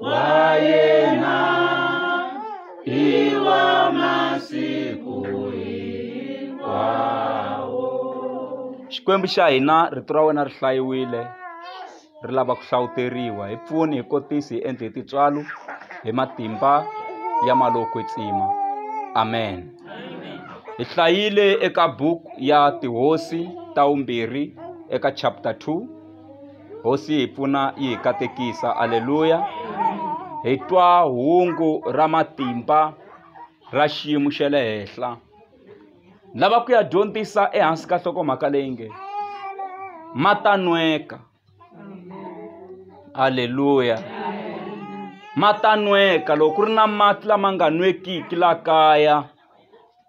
wa yena hi wa masiku hinkwawo xikwembu xa hina rito ra wena ri hlayiwile ri lava ku hlawuteriwa hi pfuni hi kotisi hi endle hi tintswalo hi matimba ya maloko tsima amen hi hlayile eka buku ya tihosi ta vumbirhi eka chapter 2 hosi yi hi pfuna yi hi katekisa aleluya hi twa hungu ra matimba ra xiyimo xa le henhla lava ku ya dyondzisa ehansi ka nhlokomhaka leyi nge matanweka aleluya matanweka loko ku ri na mati lama nga nwekiki la kaya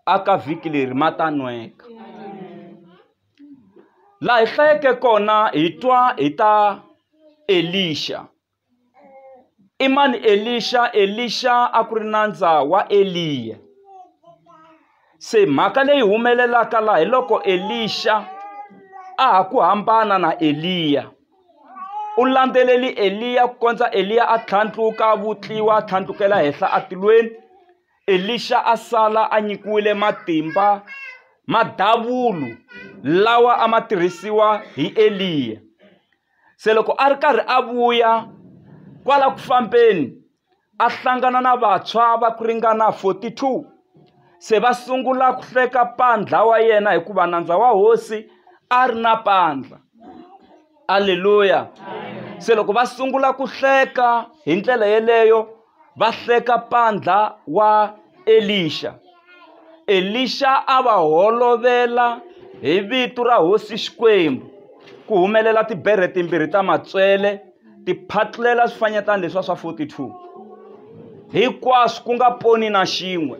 aka vhiki leri matanweka Laha hi hlayeke kona hi twa hi ta Elixa. I mani Elixa? Elixa a ku ri nandza wa Eliya. Se mhaka leyi humelelaka laha hi loko Elixa a ha ku hambana na Eliya. U landzeleli Eliya ku kondza Eliya a tlhandluka, a vutliwa, a tlhandlukela henhla atilweni, Elixa a sala a nyikiwile matimba ma davulu lawa a ma tirhisiwa hi Eliya. Se loko a ri karhi a vuya kwala ku fambeni a hlangana na vantshwa va ku ringana 42 se va sungula ku hleka pandla wa yena hikuva nandza wa hosi a ri na pandla aleluya se loko va sungula ku hleka hi ndlela yeleyo va hleka pandla wa Elixa. Elixa a va holovela hi vito ra hosi Xikwembu ku humelela tiberhe timbirhi ta matswele ti phatlela swifanyetana leswa swa 42 hinkwaswo ku nga poni na xin'we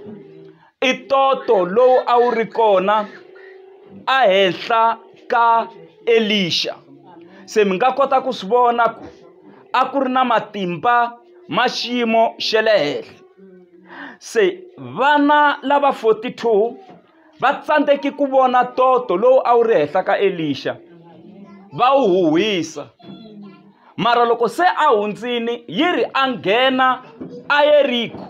I ntoto lowu a wu ri kona ehenhla ka Elixa. Se mi nga kota ku swi vona ku a ku ri na matimba ma xiyimo xa le henhla. Se vana lava 42 va tsandzeke ku vona ntoto lowu a wu ri henhla ka Elixa, va wu huhwisa. Mara loko se a hundzile, yi ri a nghena eYeriko.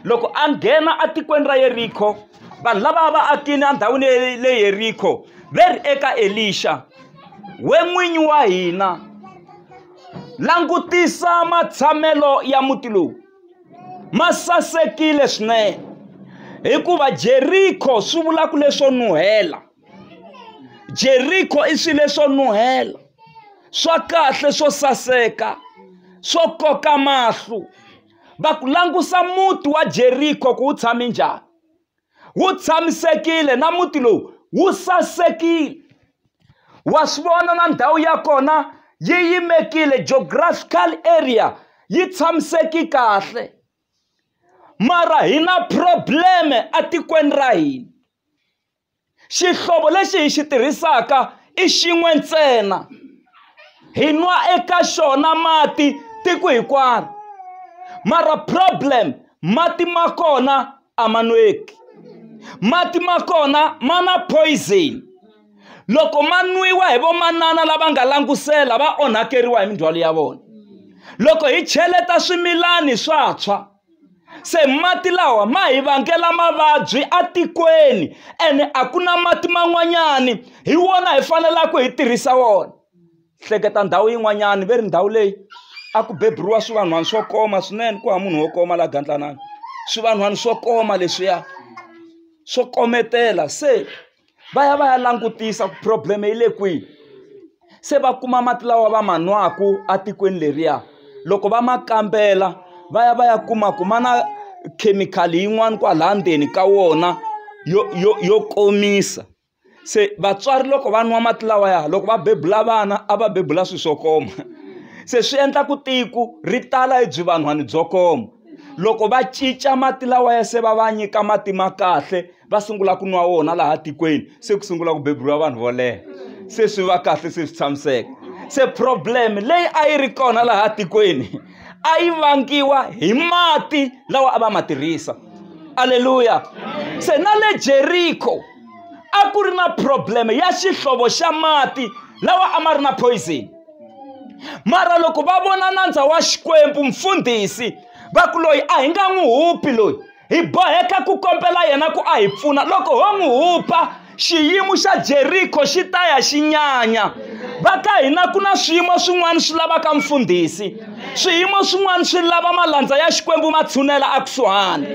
loko a nghena etikweni ra yerikho vanhu lava va akini endhawini le yerikho ve ri eka elixa we n'winyi wa hina langutisa matshamelo ya muti lowu ma sasekile swinene hikuva jerikho swi vulaka leswo nuhela jeriko i swilo leswo nuhela swa kahle swo saseka swo koka mahlo va ku langusa muti wa jeriko ku wu tshame njhani wu tshamisekile na muti lowu wu sasekile wa swi vona na ndhawu ya kona yi yimekile geographical area yi tshamiseki kahle mara hi na probleme etikweni ra hina xihlovo lexi hi xi tirhisaka i xin'we ntsena hi nwa eka xona mati tiko hinkwaro mara problem mati ma kona a ma nweki mati ma kona ma na poison loko ma nwiwa hi vamanana lava nga langutisela va onhakeriwa hi mindzhwalo ya vona loko hi cheleta swimilani swa tshwa se mati lawa ma hi vangela mavabyi etikweni ene a ku na mati man'wanyani hi wona hi faneleke hi tirhisa wona hleketa ndhawu yin'wanyani ve ri ndhawu leyi a ku beburiwa swivanhwana swo koma swinene ku ha munhu wo koma laha gandlanani swivanhwana swo koma leswiya swo kometela se va ya va ya langutisa ku problem yi le kwihi se va kuma mati lawa va ma nwaka etikweni leriya loko va ma kambela va ya va ya kuma ku ma na khemikhali yin'wani kwalaya ndzeni ka wona yo yo yo komisa se vatswari loko va nwa mati lawaya loko va bebula vana a va bebula swilo swo koma se swi endla ku tiko ri tala hi byi vanhwani byo koma loko va cinca mati lawa ya se va va nyika mati ma kahle. va sungula ku nwa wona laha tikweni se ku sungula ku beburiwa vanhu vo leha se swi va kahle se swi tshamiseka se problem leyi a yi ri kona laha tikweni a yi vangiwa hi mati lawa a va ma tirhisa aleluya se na le jeriko a ku ri na problem ya xihlovo xa mati lawa a ma ri na poison mara loko va vona nandza wa xikwembu mfundhisi va ku loyi a hi nga n'wi hupi loyi hi boheka ku kombela yena ku a hi pfuna loko ho n'wi hupa xiyimo xa jeriko xi ta ya xi nyanya va ka hina ku na swiyimo swin'wana swi lavaka mfundhisi swiyimo swin'wana swi lava malandza ya xikwembu ma tshunela ekusuhani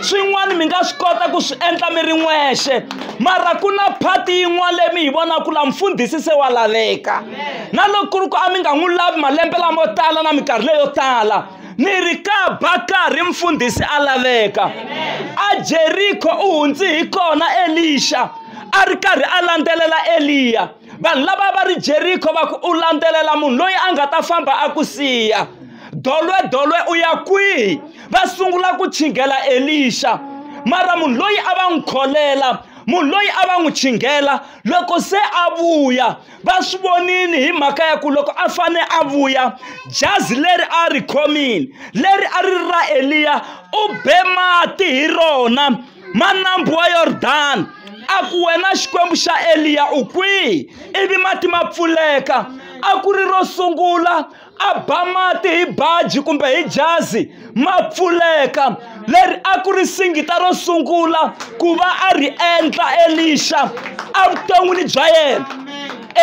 swin'wana mi nga swi kota ku swi endla mi ri n'wexe mara ku na phati yin'wana leyi mi yi vonaka ku la mfundhisi se wa laveka na loko ku ri ku a mi nga n'wi lavi malembe lamo tala na minkarhi leyo tala ni ri ka bakari mfundhisi a laveka a jeriko u hundzi hi kona elixa a ri karhi a landzelela eliya vanhu lava va ri jeriko va ku u landzelela munhu loyi a nga ta famba a ku siya dolwe dolwe u ya kwihi va sungula ku chingela elixa mara munhu loyi a va n'wi kholela munhu loyi a va n'wi chingela loko se a vuya va swi vonile hi mhaka ya ku loko a fane a vuya jazi leri a ri khomile leri a ri ra eliya u be mati hi rona manambu wa yordani a ku wena xikwembu xa eliya u kwihi ivi mati ma pfuleka a ku ri ro sungula a ba mati hi baji kumbe hi jazi ma pfuleka leri a ku ri singita ro sungula ku va a ri endla elixa evuton'wini bya yena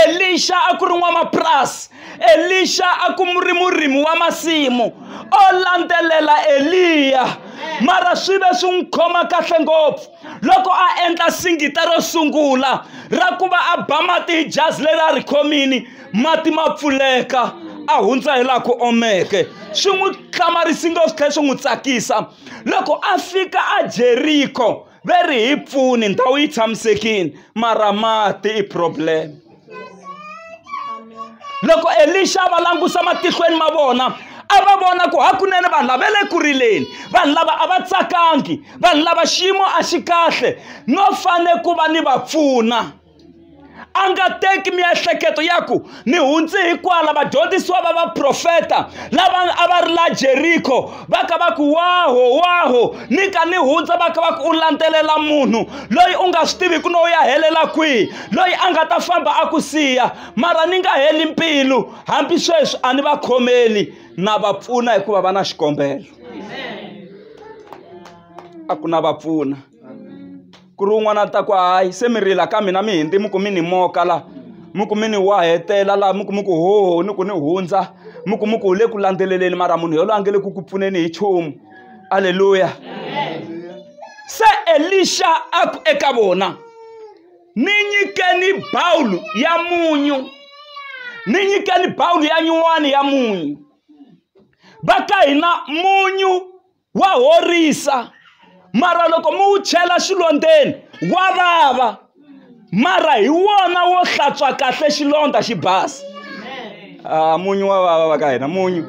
elixa a ku ri n'wamapurasi elixa a ku ri murimi wa masimu o landzelela eliya mara swi ve swi n'wi khoma kahle ngopfu loko a endla singita ro sungula ra ku va a ba mati hi jazi leri a ri khomini mati ma pfuleka a hundza hi laha ku omeke swi n'wi hlamarisi ngopfu tlhela swi n'wi tsakisa loko a fika a jeriko ve ri hi pfuni ndhawu yi tshamisekile mara mati i problem. loko elixa va langusa matihlweni ma vona a va vona ku hakunene vanhu lava le ku rileni vanhu lava a va tsakangi vanhu lava xiyimo a xi kahle no fane ku va ni va pfuna a nga teki miehleketo ya ku ni hundzi hikwala vadyondzisiwa va vaprofeta lava a va ri la jeriko va ka va ku waho waho ni ka ni hundza va ka va ku u landzelela munhu loyi u nga swi tiviki no ya helela kwihi loyi a nga ta famba a ku siya mara ni nga heli mpilu hambi sweswi a ni va khomeli na va pfuna hikuva va na xikombelo a ku na va pfuna ku ri un'wana a ta ku hayi se mi rila ka mina mi hindzi mi ku mi ni moka la mi ku mi ni wahetela laha mi ku mi ku ho ni ku ni hundza mi ku mi ku wu le ku landzeleleni mara munhu yoloye a nge le ku ku pfuneni hi chumu aleluya se elixa a ku eka vona ni nyikeni bawulu ya munyu ni nyikeni bawulu ya nyuwani ya munyu va ka hina munyu Wa horisa, mara loko mi wu chela xilondzeni wa vava, mara hi wona wo hlantswa kahle xilondza xi basa. Ah, munyu wa vava va ka hina, munyu.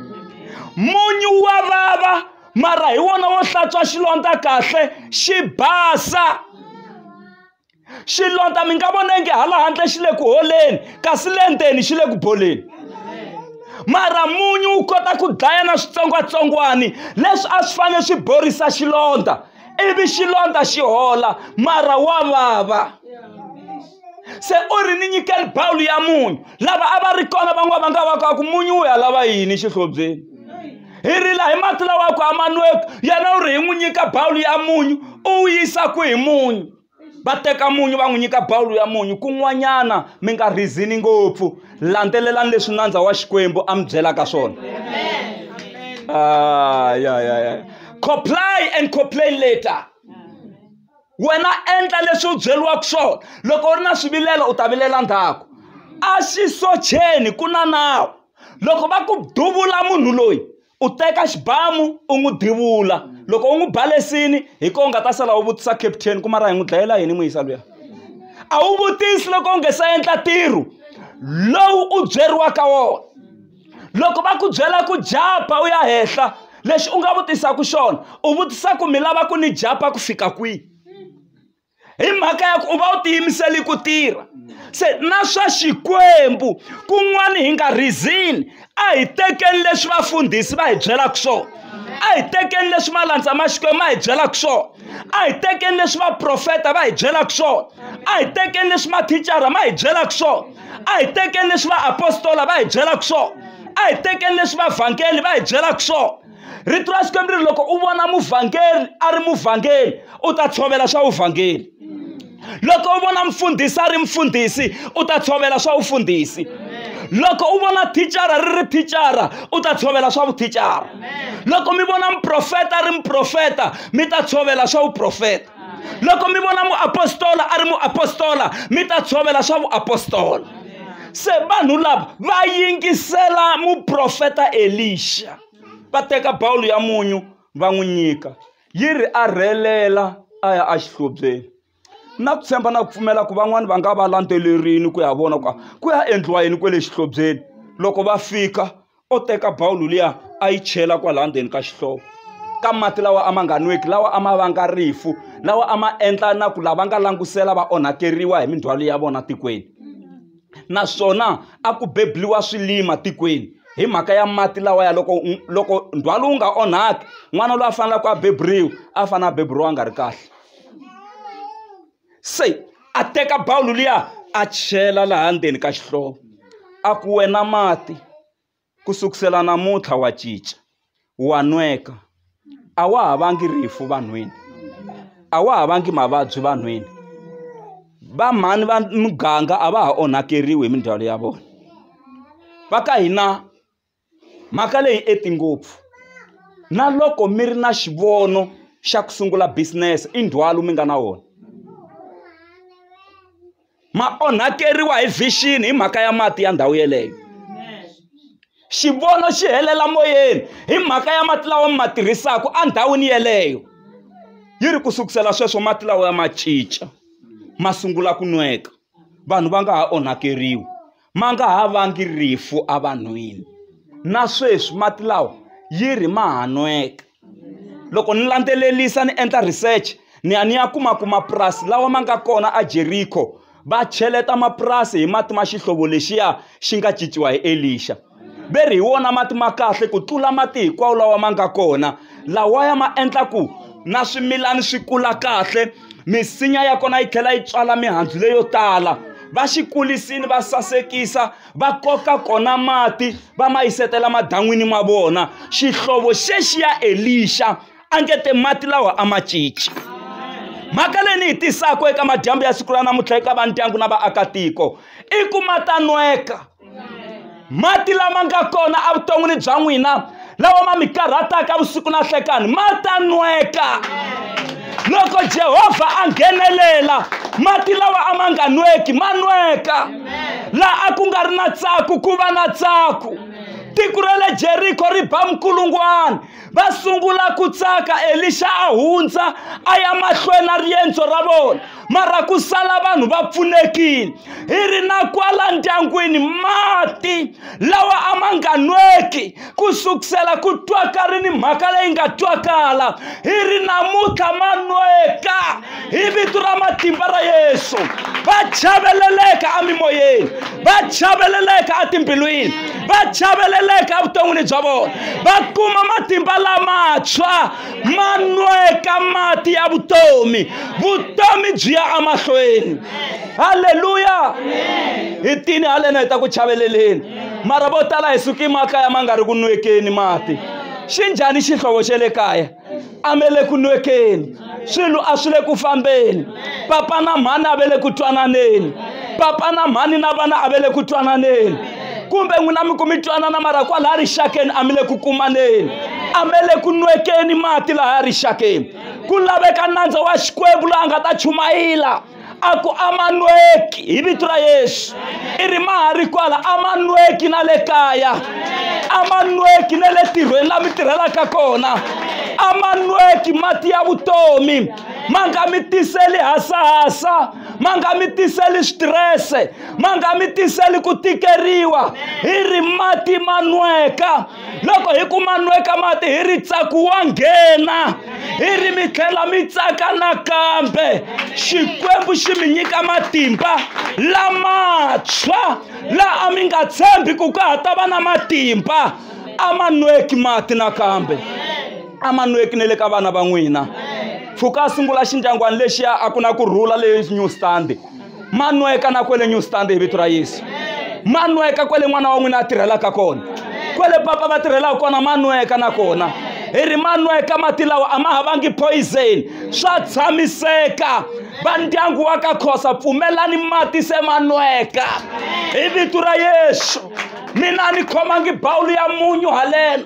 Munyu wa vava, mara hi wona wo hlantswa xilondza kahle xi basa. xilondza mi nga vona nge hala handle xi le ku holeni kasi le ndzeni xi le ku boleni mara munyu wu kota ku dlaya na switsongwatsongwani leswi a swi fanele swi borisa xilondza ivi xilondza xi hola mara wa vava se u ri ni nyikeli bawulu ya munyu lava a va ri kona van'wana va nga va ka ku munyu wu ya lava yini xihlobyeni hi rila hi mati lawa ku amanweki yena u ri hi n'wi nyika bawulu ya munyu u wu yisa ku hi munyu va teka munyu va n'wi nyika bawulu ya munyu kun'wanyana mi nga rhizini ngopfu landzelelani leswi nandza wa xikwembu a mi byelaka swona ah, yeah, yeah, yeah. comply and complain later wena endla leswi u byeriwaka swona loko u ri na swivilelo u ta vilela ndzhaku a xi socheni ku na nawu loko va ku duvula munhu loyi u teka xibamu u n'wi divula loko u n'wi balesini hi ko u nga ta sala u vutisa captain ku mara hi n'wi dlayela yini n'wi yisa luya a wu vutisi loko u nge se endla ntirho lowu u byeriwaka wona loko va ku byela ku japa u ya henhla lexi u nga vutisaka xona u vutisa ku mi lava ku ni japa ku fika kwihi hi mhaka ya ku u va u tiyimiseli ku tirha se na swa xikwembu kun'wana hi nga rizini a hi tekeni leswi vafundhisi va hi byelaka swona a hi tekeni leswi malandza ma xikwembu ma hi byelaka swona a hi tekeni leswi vaprofeta va hi byelaka swona a hi tekeni leswi mathicara ma hi byelaka swona a hi tekeni leswi vaapostola va hi byelaka swona a hi tekeni leswi vavhangeli va hi byelaka swona rito ra xikwembu ri ri loko u vona muvhangeri a ri muvhangeri u ta tshovela swa vuvhangeri loko u vona mfundhisi a ri mfundhisi u ta tshovela swa vufundhisi loko u vona thicara ri ri thicara u ta tshovela swa vuthicara loko mi vona muprofeta a ri muprofeta mi ta tshovela swa vuprofeta loko mi vona muapostola a ri muapostola mi ta tshovela swa vuapostola se vanhu lava va yingisela muprofeta elixa va teka bawulo ya munyu va n'wi nyika yi ri a rhelela a ya exihlobyeni na ku tshemba na ku pfumela ku van'wani va nga va landzelerini ku ya vona ku ku ya endliwa yini kwale xihlobyeni loko va fika o teka bawulo liya a yi chela kwalaha ndzeni ka xihlovo ka mati lawa a ma nga nweki lawa a ma vanga rifu lawa a ma endla na ku lava nga langutisela va onhakeriwa hi mindzhwalo ya vona tikweni naswona a ku bebuliwa swilima tikweni hi mhaka ya mati lawa ya loko loko ndzhwalo wu nga onhaki n'wana loyi a faneleke a beburiwa a fanele a beburiwa a nga ri kahle se a teka bawulo liya a chela laha ndzeni ka xihlovo a ku wena mati ku sukusela namuntlha wa cinca wa nweka a wa ha vangi rifu vanhwini a wa ha vangi mavabyi vanhwini va mhani va muganga a va ha onhakeriwi hi mindzhwalo ya vona va ka hina Mhaka leyi enting ngopfu. Na loko mi ri na xivono xa ku sungula business i ndzhwalo mi nga na wona. Ma onhakeriwa hi vision hi mhaka ya mati ya ndhawu yeleyo. Xivono xi helela moyeni hi mhaka ya mati lawa mi ma tirhisaka endhawini yeleyo. Yi ri ku sukusela sweswo mati lawa ya ma cinca ma sungula ku nweka vanhu va nga ha onhakeriwi. ma nga ha vangi rifu evanhwini na sweswi mati lawa yi ri ma ha nweka loko ni landzelelisa ni endla research ni ya ni ya kuma ku mapurasi lawa ma nga kona a Jeriko va cheleta mapurasi hi mati ma xihlovo lexiya xi nga cinciwa hi Elixa ve ri hi wona mati ma kahle ku tlula mati hinkwawo lawa ma nga kona lawaya ma endla ku na swimilana swi kula kahle. misinya ya kona yi tlhela yi tswala mihandzu leyo tala va xi kulisini va sasekisa va koka kona mati va ma yisetela madan'wini ma vona xihlovo xexiya elixa a nge te mati lawa a ma cinci mhaka leyi ni yi tisaka eka madyambu ya siku ra namuntlha eka va ndyangu na vaakatiko i ku ma ta nweka mati lama nga kona evuton'wini bya n'wina lawa ma mi karhataka vusiku na hlekani ma ta nweka loko jehovha a nghenelela mati lawa a ma nga nweki ma nweka laha a ku nga ri na tsaku ku va na tsaku tiko ra le jeriko ri ba minkulungwana va sungula ku tsaka elixa a hundza a ya mahlweni na riendzo ra vona mara ku sala vanhu va pfunekile hi ri na kwala ndyangwini mati lawa a ma nga nweki ku sukusela ku twaka ri ni mhaka leyi nga twakala hi ri namuntlha ma nweka hi vito ra matimba ra yesu va chaveleleka emimoyeni va chaveleleka etimbilwini va chaveleleka evuton'wini bya vona va kuma matimba lamatshwa ma nweka mati ya vutomi vutomi byi ya emahlweni halleluya hi tini halena hi ta ku chaveleleni mara vo tala hi suki makaya ma nga ri ku nwekeni mati xi njhani xihlovo xa le kaya a mi le ku nwekeni swilo a swi le ku fambeni papa na mhani a ve le ku twananeni papa na mhani na vana a ve le ku twananeni kumbe n'wina mi ku mi twanana mara kwalaha rixakeni a mi le ku kumaneni a mi le ku nwekeni mati lahaya rixakeni ku laveka nandza wa xikwembu loyi a nga ta chumayela a ku a ma nweki hi vito ra yesu i ri ma ha ri kwala a ma nweki na le kaya a ma nweki na le tirhweni la mi tirhelaka kona a ma nweki mati ya vutomi ma nga mi tiseli hasahasa ma nga mi tiseli switirese ma nga mi tiseli ku tikeriwa hi ri mati ma nweka loko hi kuma nweka mati hi ri tsaku wa nghena hi ri mi tlhela mi tsaka nakambe xikwembu xi mi nyika matimba lamatshwa la a mi nga tshembi ku ka ha ta va na matimba a ma nweki mati nakambe a ma nweki ne le ka vana va n'wina pfuka a sungula xindyangwani lexiya a ku na ku rhula leyi new stand manweka na kwele new stand hi vito ra yesu manweka kwele n'wana wa n'wina a tirhelaka kona kwele papa va tirhelaka kona manweka na kona hi ri manweka mati lawa a ma havangi poison swa tshamiseka va ndyangu wa ka khosa pfumelani mati se manweka hi vito ra yesu mina ni khomangi bawulu ya munyu haleno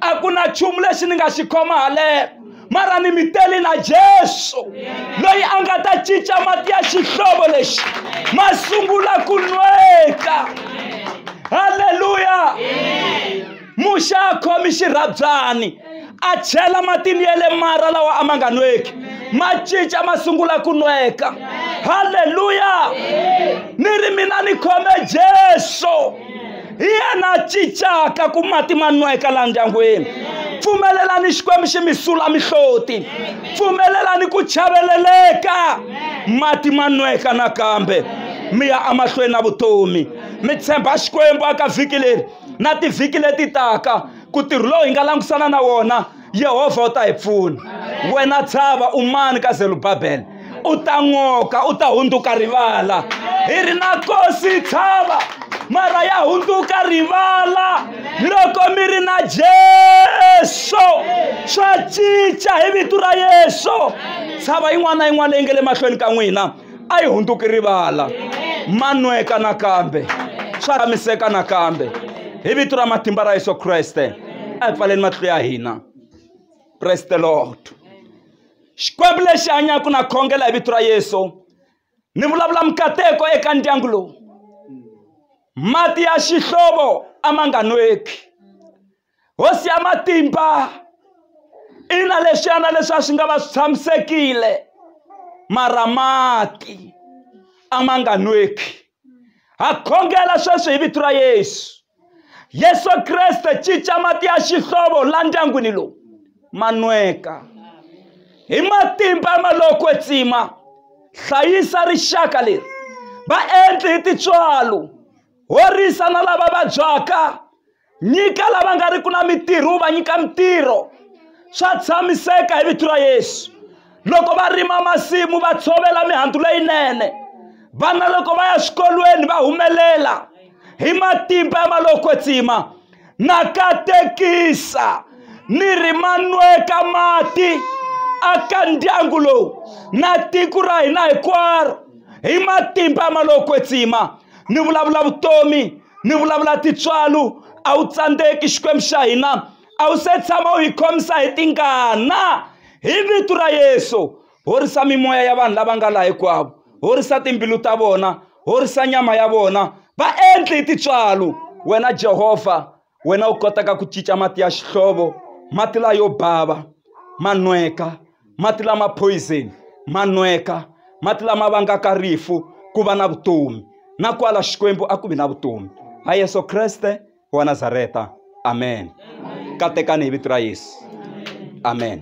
a ku na nchumu lexi ni nga xi khoma haleno mara ni mi tele na jesu loyi a nga ta cinca mati ya xihlovo lexi ma sungula ku nweka halleluya muxa a khomi xirhabyani a chela matini ya le mara lawa a ma nga nweki ma cinca ma sungula ku nweka halleluya ni ri mina ni khome jesu hi yena a cincaka ku mati ma nweka laha ndyangwini pfumelelani xikwembu xi mi sula mihloti pfumelelani ku chaveleleka mati ma nweka nakambe mi ya emahlweni na vutomi mi tshemba xikwembu aka vhiki leri na tivhiki leti taka ku tirhi lowu hi nga langutisana na wona yehovha u ta hi pfuna wena tshava umani ka zelubabele u ta n'oka u ta hundzuka rivala hi ri na kosi tshava mara ya hundzuka rivala loko mi ri na jesu swa cinca hi vito ra yesu tshava yin'wana na yin'wana leyi nga le mahlweni ka n'wina a yi hundzuki rivala manweka nakambe swa ramiseka nakambe hi vito ra matimba ra yesu kreste a hi pfaleni matihlo ya hina praise the lord xikwembu lexi hanyaka na khongela hi vito ra yesu ni vulavula mikateko eka ndyangu lowu mati ya xihlovo a ma nga nweki hosi ya matimba ina leswiyana leswi a swi nga va swi tshamisekile mara mati a ma nga nweki ha khongela sweswi hi vito ra yesu yesu kreste cinca mati ya xihlovo la ndyangwini lowu ma nweka hi matimba ya maloko etsima hlayisa rixaka leri va endli hi tintswalo horisa na lava vabyaka nyika lava nga riki na mitirho va nyika mitirho swa tshamiseka hi vito ra yesu loko va rima masimu va tshovela mihandzu leyinene vana loko va ya swikolweni va humelela hi matimba ya malokwetsima na katekisa ni ri manweka mati aka ndyangu lowu na tiko ra hina hinkwaro hi matimba ya malokwetsima ni vulavula vutomi ni vulavula tintswalo a wu tsandzeki xikwembu xa hina a wu se tshama u hi khomisa hi tingana hi vito ra yesu horisa mimoya ya vanhu lava nga laha hinkwavo horisa timbilu ta vona horisa nyama ya vona va endli hi tintswalo wena jehovha wena u kotaka ku cinca mati ya xihlovo mati layo bava manweka mati lama poison ma nweka mati lama vangaka rifu ku va na vutomi na kwala xikwembu a ku vi na vutomi ha yesu kreste wa nazareta amen katekani hi vito ra yesu amen